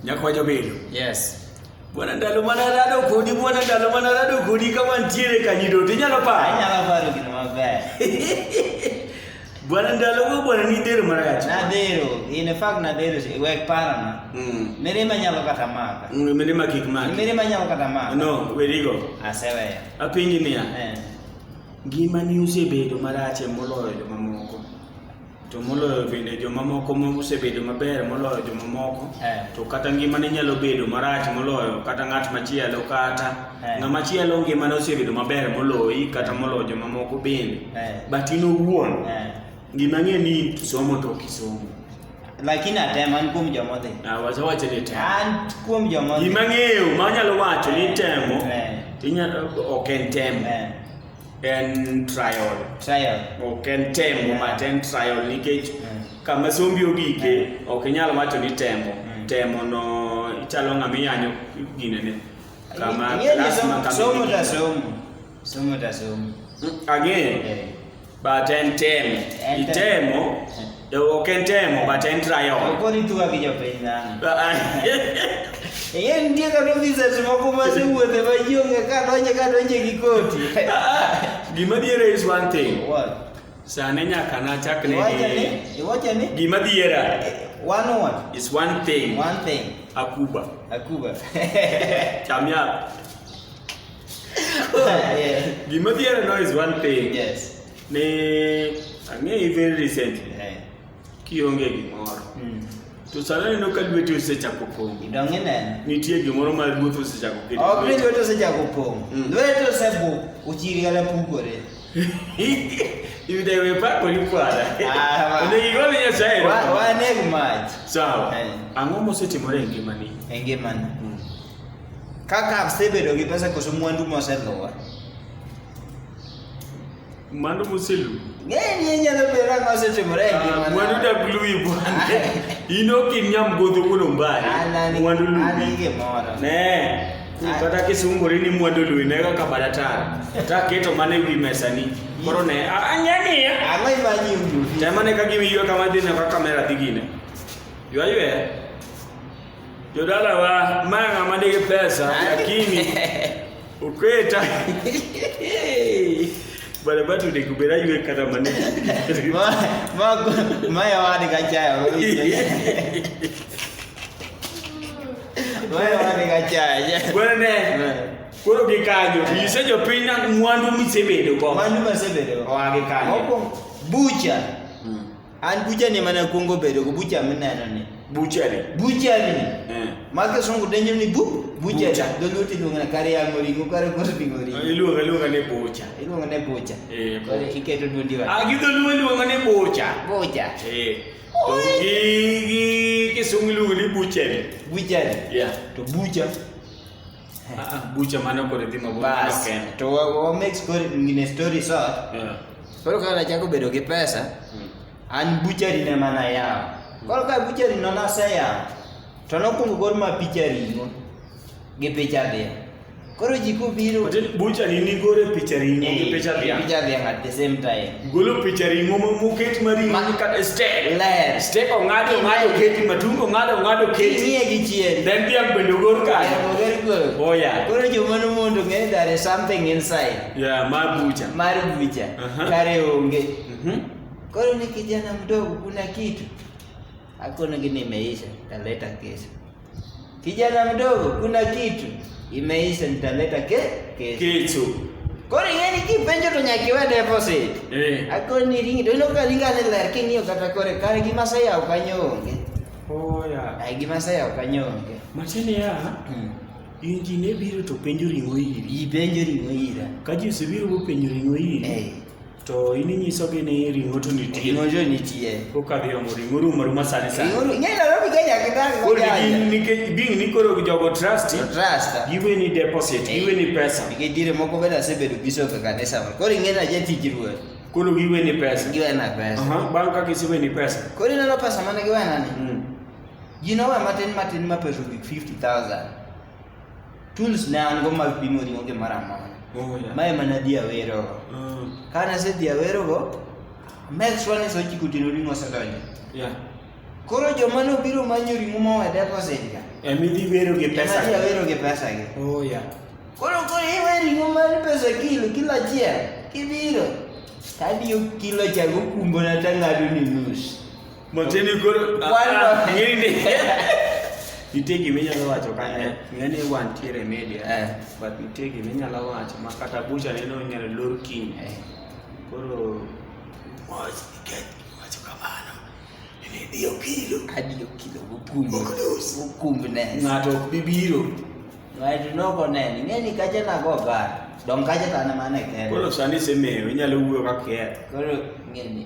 Nyako wacho bedo. Yes. Bwana ndalo mana rado kodi, bwana ndalo mana rado kodi kama ntiere kanyido, tinyalo paro. Anyalo paro gino maber. Bwana ndalo go bwana ni dero marach. Na dero, in fact na dero wek para na. Mm. Mere manyalo kata maka. Mm, mere ma kik maka. Mere manyalo kata maka. No, we digo. Aseweya. Apingi niya. Eh. Ngima ni usebedo marach e moloyo jomamoko. to moloyo bende jomamoko mosebedo maber moloyo jomamoko eh. to kata ngimane nyalo bedo marach moloyo kata ng'at machielo kata eh. ng'ama chielo ngimane osebedo maber moloyi kata eh. moloyo jomamoko bende eh. but in owuon eh. gima ng'e ni somo to kisomo lakini atema an kuom joma odhi ah, wasewacho ni temo an kuom joma odhi gima ng'eyo ma anyalo wacho ni eh. temo eh. ok en temo eh. en trial trial ok en tembo yeah. but en trial nikech yeah. Mm. kama sombi ogike yeah. ok inyal wacho ni tembo mm. tembo no ichalo ng'ama iyanyo ginene kama lasma kama somo ta somo somo ta somo mm, again yeah. but en temo itemo yeah. Ok en temo but en trial. Okoni tu ka gijo piny dhano. Yeye ndiye kata officers moko ma se wuothe ma ji onge ka donje ka donje gi koti. Gima diere is one thing. What? Sane nyaka na chak ne. Iwacha ni? Iwacha ni? Gima diera. One what? Is one thing. One thing. Akuba. Akuba. Chamya. Gima diera no is one thing. Yes. Ne ang'eyi very recently. Eh. Kionge gimoro. Mm. To sana neno ka lweti osechako pong'. Idong' ineno. Nitie gimoro ma lweti osechako kedo. Ok ni lweti osechako pong'. Mm. Lweti osebuk, ochiri kata pukore. Yudewe pako ni kwada. Ah, ne igole Nyasaye. Wa wa ne mach. Sawa. Eh. Ang'o mosetimore e ngimani? E ngimani. Mm. Kaka asebedo gi pesa koso mwandu moseluwa. Mano moselu. Ng'eni inyalo bedo ang'o osetimore e ngimana. Mwandu dak luwi bwana. In ok in nyamgodho wuon Ombare. An an Mwandu an luwi. gi gimoro. Ne. Ah. Kata kisungori ni mwandu luwi ne kaka badatar. Ta keto mane wi mesani. Koro ne a- anyani. Ang'o imanyi uduvi? Tema ne ka gimi ywe kama dhi ne ka kamera dhi gine. Ywa ywe. Jodala wa manga madege pesa lakini ukweta bale batu de kubera yue kata mane ma ma maya wani kachaya maya wani kachaya bwana koro gikanyo yise jopiny na mwandu misebedo go mwandu misebedo go gikanyo bucha An bucha ni mana kuongo bedo go bucha mineno ni. Bucha ni. Bucha ni. Eh. Maka songo denyo ni bu bucha. bucha. Dogo ti lunga na kare ya mori ko kare ko ti mori. Iluwa ah, luwa ne bucha. Iluwa ne bucha. Eh. Ko ti keto dun diwa. Ah gido luwa luwa ne bucha. Bucha. Eh. To gi gi ke songo luwa ni bucha ni. Bucha ni. Yeah. To bucha. Ah, ah, bucha maana kore dhima bas to wa make story ngine story short yeah. koro kaka nachako bedo gi pesa mm. an buchari ne mana yawo hmm. koro ka buchari no naseyawo to nokwongo gol ma picha ring'o gi picha dhiang' koro ji kobiro buchari nigore picha ring'o gi eh, picha dhiang' at the same time golo picha ring'o moket ma ring'o mani kata steak ler steak ong'ado ong'ado keti matungo ong'ado ong'ado keti nie gi chien then dhiang' bende ogor kae oh yeah koro joma no mondo ng'e there is something inside yeah mar bucha mar bucha uh-huh. kare onge mm-hmm. koro ni kijana mdogo kuna kitu hakuna gini imeisha taleta kesho Kijana mdogo, kuna kitu imeisha, nitaleta ke kesho. Kesho. Kore ngeni ki penjo to nyaki we deposit. Eh. Ako ni ringi do no kali ngale ler ki ngiyo kata kore kare gi masa ya ukanyonge. Oya. Ai gi masa ya ukanyonge. Machine ya. Hmm. Injine biro to penjo ringo iri. I penjo ringo ira. Kaji usibiro go penjo ringo iri. Eh. to in inyisogi ni ring'o to nitie Ring'o to nitie. kokadhi omo ring'o rumo ruma sani sani Ring'o ru- ng'eny Nairobi Kenya kitang' koro mojanja. gin- nikech being ni koro jogo trust To trust. giweni deposit Eh. giweni pesa Nikech dire moko bende asebedo bishop e kanisa moro. Koro ing'e ni aja tij ruoth. koro giweni pesa Giwena pesa. Aha, bang' ka giseweni pesa Koro ineno pesa mane giwena ni? Mm. Gino we matin matin ma pesa ogik 50,000. tools ne an go mag pimo ring'o gi mara mora Oh, yeah. mae mana dhi awero Mm. ka nasedhi awerogo make sure ni sochiko otieno ring'o osedonjo Yeah. koro joma nobiro manyo ring'o mowe deposit ga Eh, midhi wero gi pesa. joma dhi awero gi pesa gi Oh, yeah. koro koro iwe ring'o mar pesa kilo kilo achiel kibiro tadiyo kilo chago kumbona tang'ado ni nus Macheni koro ng'eni nitie gima inyalo wacho kane eh. ng'eni wantiere e media eh. but nitie gima inyalo wacho ma kata bucha neno inyalo lor kiny eh. koro mos nikech wacho kamano nene dio kilo adio kilo mokumbe mokumbe ne ng'ato ok bi biro ng'ato noko nene ng'eni kacha nago gar dong kacha tane mane kende koro sani semeyo inyalo wuoyo ka kier koro ng'eni